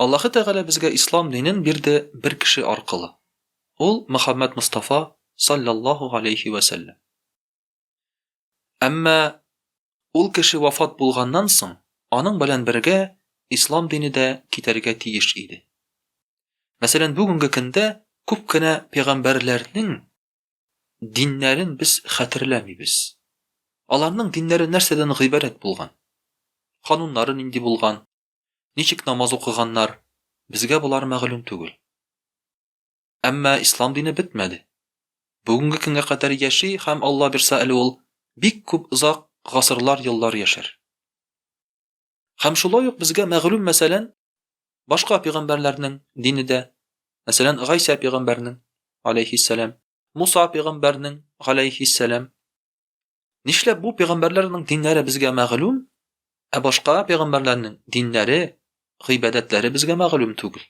Аллаһы Тәгалә безгә Ислам динен бирде бер кеше аркылы. Ул, Мөхәммәд Мостафа, салләллаһу галәйһи вә сәлләм. Әмма ул кеше вафат булганнан соң, аның белән бергә Ислам дине дә китәргә тиеш иде. Мәсәлән, бүгенге көндә күп кенә пәйгамбәрләрнең диннәрен без хәтерләмибез. Аларның диннәре нәрсәдән гыйбарәт булган? Кануннары нинди булган? ничек намаз укыганнар, безгә болар мәгълүм түгел. Әмма ислам дине бетмәде. Бүгенге көнгә кадәр яши һәм Алла бирсә әле ул бик күп озак гасырлар еллар яшәр. Һәм шулай ук безгә мәгълүм мәсәлән, башка пигамбәрләрнең дине дә, мәсәлән, Гайсә пигамбәрнең, алейхиссәлам, Муса пигамбәрнең, алейхиссәлам, Нишләп бу пәйгамбәрләрнең диннәре безгә мәгълүм, ә башка пәйгамбәрләрнең диннәре, гыйбадәтләре безгә мәгълүм түгел?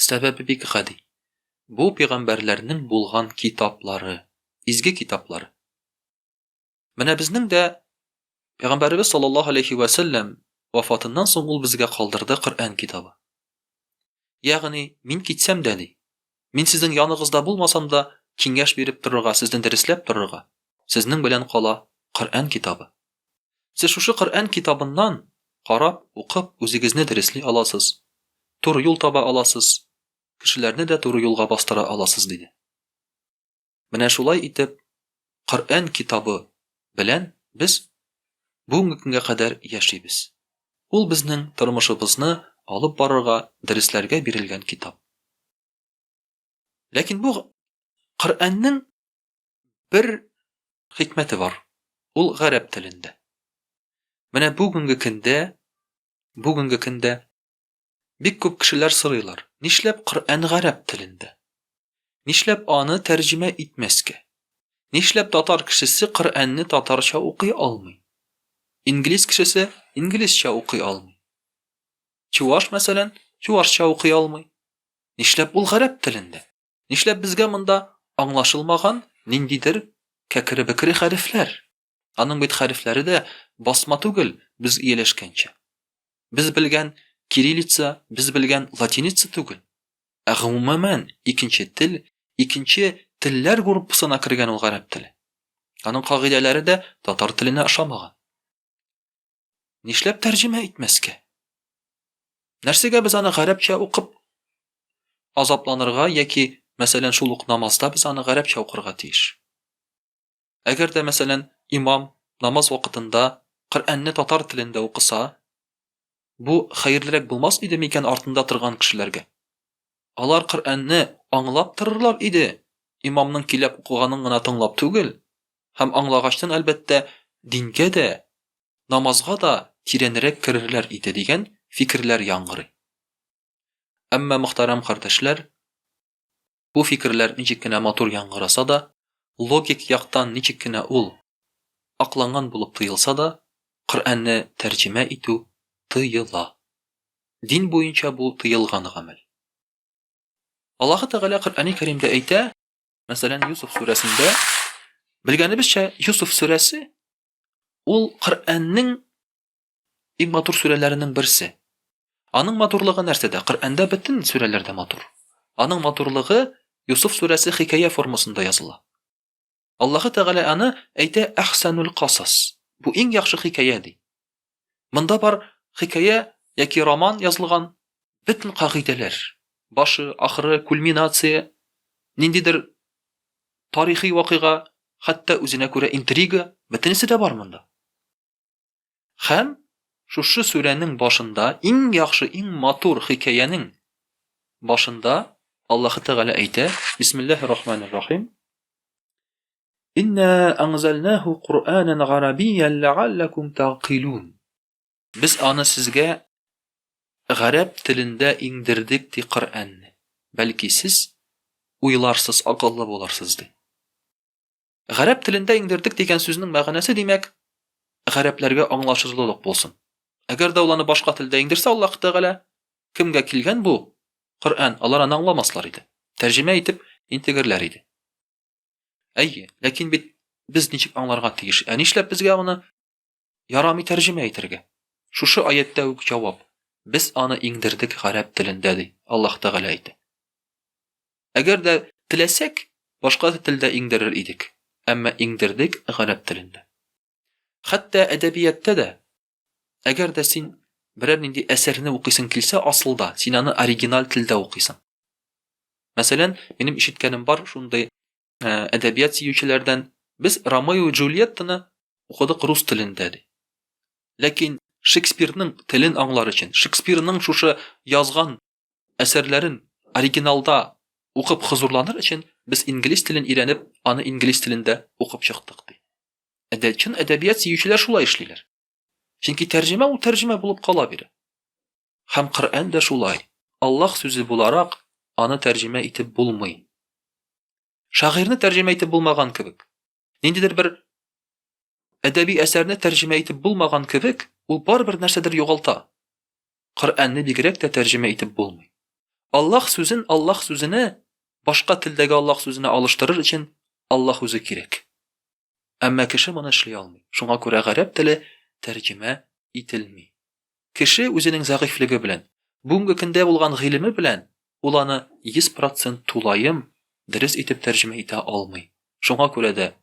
Сәбәбе бик гади. Бу пәйгамбәрләрнең булган китаплары, изге китаплары. Менә безнең дә Пәйгамбәребез саллаллаһу алейһи вә сәлләм вафатыннан соң ул безгә калдырды Коръән китабы. Ягъни, мин китсәм дә, ди, мин сезнең яныгызда булмасам да, киңәш биреп торырга, сезне дөресләп торырга, сезнең белән кала Коръән китабы. Сез шушы Коръән китабыннан карап, укып, үзегезне дөресли аласыз, туры юл таба аласыз, кешеләрне дә туры юлга бастыра аласыз, диде. Менә шулай итеп, Коръән китабы белән без бүгенге көнгә кадәр яшибез. Ул безнең тормышыбызны алып барырга, дөресләргә бирелгән китап. Ләкин бу Коръәннең бер хикмәте бар, ул гарәп телендә. Менә бүгенге көндә, бүгенге көндә Бик күп кешеләр сорыйлар, нишләп Коръән гарәп телендә? Нишләп аны тәрҗемә итмәскә? Нишләп татар кешесе Коръәнне татарча укый алмый? Инглиз кешесе инглизчә укый алмый? Чуваш, мәсәлән, чувашча укый алмый? Нишләп ул гарәп телендә? Нишләп безгә монда аңлашылмаган ниндидер кәкере-бекере хәрефләр? Аның бит хәрефләре дә басма түгел, без ияләшкәнчә. Без белгән кириллица, без белгән латиница түгел. Ә гомумән икенче тел, икенче телләр группасына кергән ул гарәп теле. Аның кагыйдәләре дә татар теленә ошамаган. Нишләп тәрҗемә итмәскә? Нәрсәгә без аны гарәпчә укып азапланырга яки, мәсәлән, шул ук намазда без аны гарәпчә укырга тиеш? Әгәр дә, мәсәлән, имам намаз вакытында Коръәнне татар телендә укыса, бу хәерлерәк булмас иде микән артында торган кешеләргә? Алар Коръәнне аңлап торырлар иде, имамның киләп укыганын гына тыңлап түгел, һәм аңлагачтан, әлбәттә, дингә дә, намазга да тирәнрәк керерләр иде, дигән фикерләр яңгырый. Әмма, мөхтәрәм кардәшләр, Бу фикерләр ничек кенә матур яңгыраса да, логик яктан ничек кенә ул акланган булып тоелса да, Коръәнне тәрҗемә итү тыела. Дин буенча бу тыелган гамәл. Аллаһы Тәгалә Коръәни Кәримдә әйтә, мәсәлән, Юсуф сүрәсендә, белгәнебезчә, Юсуф сүрәсе ул Коръәннең Иң матур сүрәләренең берсе. Аның матурлыгы нәрсәдә? Коръәндә бөтен сүрәләр дә матур. Аның матурлыгы Юсуф сүрәсе хикәя формасында языла. Аллаһы Тәгалә аны әйтә Әхсәнул касас. Бу иң яхшы хикәя ди. Монда бар хикәя яки роман язылган бөтен кагыйдәләр, башы, ахыры, кульминация, ниндидер тарихи вакыйга, хәтта үзенә күрә интрига, бөтенесе дә бар монда. Һәм шушы сүрәнең башында иң яхшы, иң матур хикәянең башында Аллаһы Тәгалә әйтә, Бисмиллаһир Рахманир Рахим. Инна анзалнаху Кур'анан гарабиян лааллакум тагкилун. Без аны сезгә гарәп телендә иңдердек ди Коръәнне. Бәлки сез уйларсыз, акыллы буларсыз ди. Гарәп телендә иңдердек дигән сүзнең мәгънәсе, димәк, гарәпләргә аңлашылырлык булсын. Әгәр дә ул аны башка телдә иңдерсә, Аллаһ Тәгалә, Кемгә килгән бу Коръән, алар аны аңламаслар иде. Тәрҗемә итеп интегерләр иде. Әйе, ләкин бит без ничек аңларга тиеш? Ә нишләп безгә аны Ярамый тәрҗемә итәргә. Шушы аятьтә үк җавап. Без аны иңдердек гарәп телендә, ди Аллаһ Тәгалә әйтә. Әгәр дә теләсәк, башка телдә иңдерер идек, әмма иңдердек гарәп телендә. Хәтта әдәбияттә дә, әгәр дә син берәр нинди әсәрне укыйсың килсә, асылда син аны оригиналь телдә укыйсың. Мәсәлән, минем ишеткәнем бар шундый ә, әдәбият сөючеләрдән без Ромео и Джульеттаны укыдык рус телендә ди. Ләкин Шекспирның телен аңлар өчен, Шекспирның шушы язган әсәрләрен оригиналда укып хозурланыр өчен без инглиз телен өйрәнеп, аны инглиз телендә укып чыктык ди. Әдә чын әдәбият сөючеләр шулай эшлиләр. Чөнки тәрҗемә ул тәрҗемә булып кала бирә. Һәм Коръән дә шулай, Аллаһ сүзе буларак, аны тәрҗемә итеп булмый. Шагыйрьне тәрҗемә итеп булмаган кебек. Ниндидер бер әдәби әсәрне тәрҗемә итеп булмаган кебек, ул барыбер нәрсәдер югалта. Коръәнне бигрәк тә тәрҗемә итеп булмый. Аллаһ сүзен Аллаһ сүзенә, башка телдәге Аллаһ сүзенә алыштырыр өчен Аллаһ үзе кирәк. Әмма кеше моны эшли алмый. Шуңа күрә гарәп теле тәрҗемә ителми. Кеше үзенең зәгыйфьлеге белән, бүгенге көндә булган гыйлеме белән ул аны 100 процент тулаем дөрес итеп тәрҗемә итә алмый. Шуңа күрә дә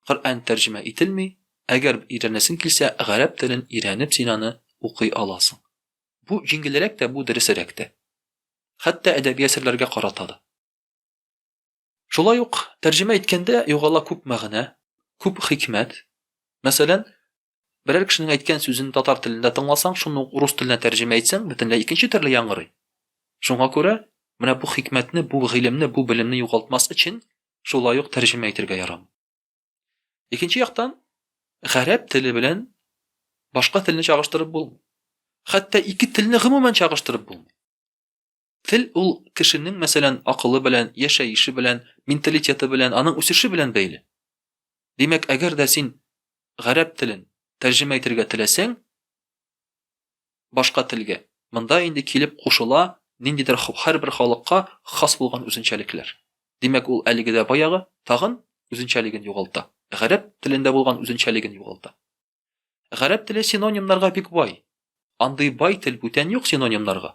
Коръән тәрҗемә ителми, әгәр өйрәнәсең килсә, гарәп телен өйрәнеп син аны укый аласың. Бу җиңелрәк тә, бу дөресерәк тә. Хәтта әдәби әсәрләргә карата да. Шулай ук, тәрҗемә иткәндә югала күп мәгънә, күп хикмәт. Мәсәлән, берәр кешенең әйткән сүзен татар телендә тыңласаң, шуны ук рус теленә тәрҗемә итсәң, бөтенләй икенче төрле яңгырый. Шуңа күрә, менә бу хикмәтне, бу гыйлемне, бу белемне югалтмас өчен, шулай ук тәрҗемә итергә ярамый. Икенче яктан, гарәп теле белән башка телне чагыштырып булмый. Хәтта ике телне гомумән чагыштырып булмый. Тел ул кешенең, мәсәлән, акылы белән, яшәеше белән, менталитеты белән, аның үсеше белән бәйле. Димәк, әгәр дә син гарәп телен тәрҗемә итергә теләсәң, башка телгә, монда инде килеп кушыла ниндидер һәрбер халыкка хас булган үзенчәлекләр. Димәк, ул әлеге дә баягы, тагын үзенчәлеген югалта. Гарәп телендә булган үзенчәлеген югалта. Гарәп теле синонимнарга бик бай. Андый бай тел бүтән юк синонимнарга.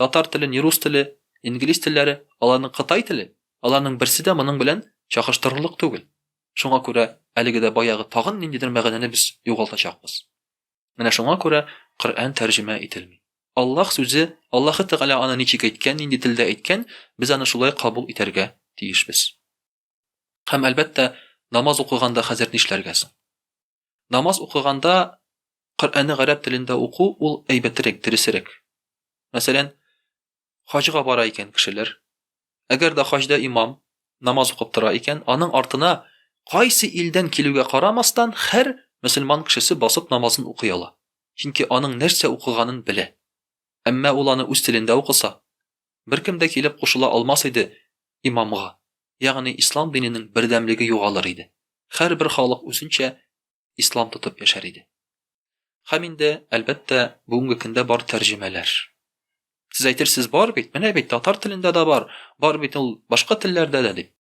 Татар теле, ни рус теле, инглиз телләре, аларның кытай теле, аларның берсе дә моның белән чагыштырырлык түгел. Шуңа күрә әлеге дә баягы тагын ниндидер мәгънәне без югалтачакбыз. Менә шуңа күрә Коръән тәрҗемә ителми. Аллаһ сүзе, Аллаһы Тәгалә аны ничек әйткән, нинди телдә әйткән, без аны шулай кабул итәргә тиешбез. Һәм, әлбәттә, намаз укыганда хәзер нишләргә соң? Намаз укыганда Коръәнне гарәп телендә уку ул әйбәтерәк, дөресерәк. Мәсәлән, хаҗга бара икән кешеләр. Әгәр дә хаҗда имам намаз укып тора икән, аның артына кайсы илдән килүгә карамастан, һәр мөселман кешесе басып намазын укый ала. Чөнки аның нәрсә укыганын белә. Әмма ул аны үз телендә укыса, Беркем дә килеп кушыла алмас иде имамга, ягъни ислам диненең бердәмлеге югалыр иде, һәрбер халык үзенчә ислам тотып яшәр иде. Һәм инде, әлбәттә, бүгенге көндә бар тәрҗемәләр. Сез әйтерсез, бар бит, менә бит, татар телендә дә бар, бар бит ул башка телләрдә дә, дип.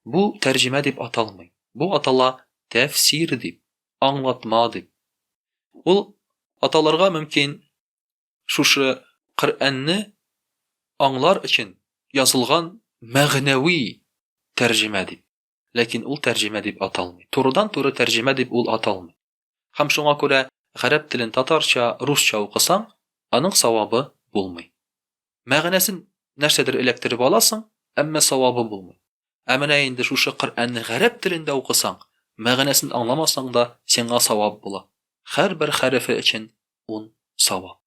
Бу тәрҗемә дип аталмый, бу атала тәфсир дип, аңлатма дип. Ул аталырга мөмкин. Шушы Коръәнне аңлар өчен язылган мәгънәви тәрҗемә дип. Ләкин ул тәрҗемә дип аталмый. Турыдан-туры тәрҗемә дип ул аталмый. Һәм шуңа күрә гарәп телен татарча, русча укысаң, аның савабы булмый. Мәгънәсен нәрсәдер эләктереп аласың, әмма савабы булмый. Ә менә инде шушы Коръәнне гарәп телендә укысаң, мәгънәсен аңламасаң да, сиңа савап була. Һәрбер хәрефе өчен ун савап.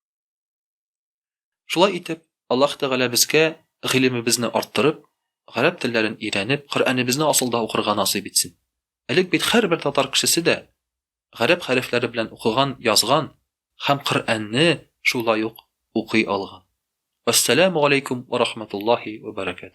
Шулай итеп, Аллаһ Тәгалә безгә гыйлемебезне арттырып, гарәп телләрен өйрәнеп, Коръәнебезне асылда укырга насыйп итсен. Элек бит һәрбер татар кешесе дә гарәп хәрефләре белән укыган, язган һәм Коръәнне шулай ук укый алган. Вәссәламү галәйкүм вә рахмәтуллаһи вә бәрәкәтүһ.